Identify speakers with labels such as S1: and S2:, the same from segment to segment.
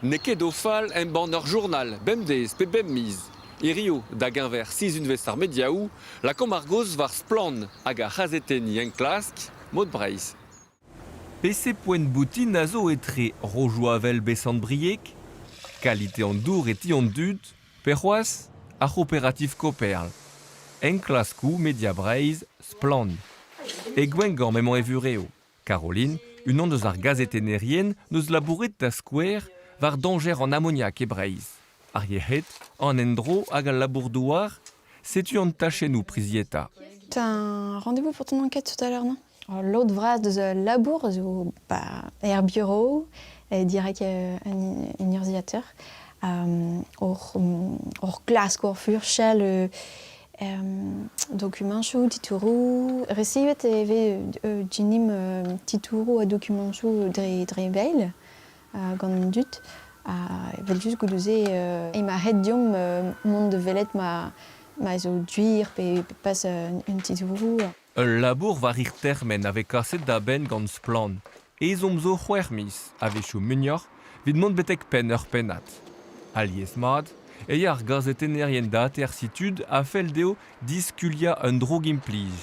S1: N'eo ket o fal embann ur journal bemdez pe bep miz. Hiziv, da geñver sizhunvezh ar mediaoù, lakaomp ar gaoz war splann hag ar c'hazetenniñ enklask Mod Breizh. Pese
S2: poent boutin a zo etre Rojoavel Besant-Brieg, Qualité en dour e ti an dud, pe c'hoazh ar c'hooperativ Koperl, enklaskoù Media Breizh, Splann! E Gwengamp emañ e vurev. Caroline, unan eus ar gazetennerien, n'eus labouret da skouer war dañjer an amoniak e Breizh. Ar yec'hed, an endro hag al labour-douar, setu an tachennoù prizietañ. T'as un
S3: rendez-vous pour ton enquête tout à l'heure, non L'autre phrase de ce labour zo bah, er bureau, e direk un urzhiateur, hor, hor glask, hor furchal Dokumañsoù, titouroù. Resivet e vez Jinim titouroù ha dokumañsoù dre veil gant an dud. Evel-just goude-se emañ ret deomp mont da welet ma zo duir pe pas un titouroù. Ul labour
S2: war hir termen a vez kaset da benn gant Splann! ezhomm zo c'hwec'h miz, a-wechoù muioc'h, evit mont betek penn ur pennad. Alies-mat e ya ar gazetennerien dataer Situd a fell dezho diskuliañ un drogi-implij,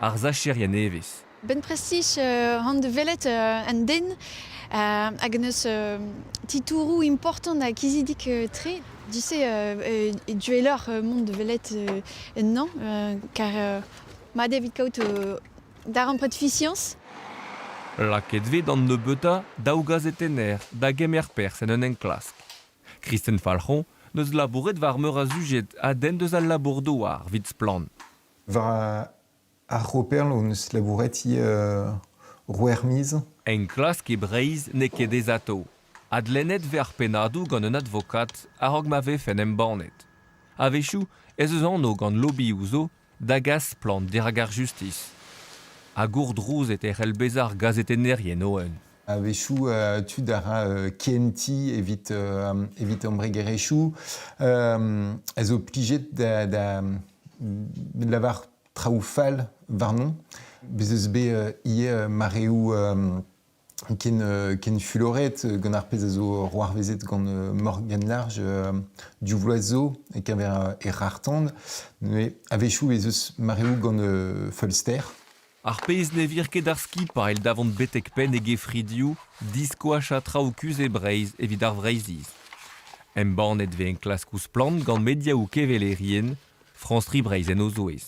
S2: ar sacherien nevez. Bennprestis
S3: hon deus welet un den hag n'eus titouroù important ha kizidik-tre. Du-se e duelloc'h mont da welet ennañ, kar Mat evit kaout darempred fisiañs.
S2: Lakaet vez d'an nebeutañ daou gazetenner da gemer perzh en un enklask. Kristen Falc'hon 'neus labouret war meur a sujed a denn deus al labour-douar 'vit Splann! War
S4: ar C'hooperl hon eus labouret ivez c'hwec'h miz. Enklask
S2: e Breizh n'eo ket ezatav. Adlennet 'vez ar pennadoù gant un advokat a-raok ma vefen embannet. A-wechoù ez eus anv gant lobioù zo da gas splann dirak ar justis. Ha gourdrouzet e c'hell bezañ ar gazetennerien o-un. A-wechoù
S4: tud a ra kentiñ evit evit embregerezhioù a zo plijet da da lavar traoù fall warnon. Bez' eus bet ivez mareoù ken, euh, ken fuloret gant ar pezh a zo roarvezet gant euh, Morgan Large euh, du Loiseau e-keñver e rartand. Mais a-wechoù ez eus mareoù gant euh, Fulster. Ar pezh
S2: ne vir ket ar skipailh davant betek penn e gefridioù diskoach ha traoù kuzh e Breizh evit ar Vreizhiz. Embannet vez enklaskoù splann gant mediaoù kevelerien France 3 Breizh en o zouez.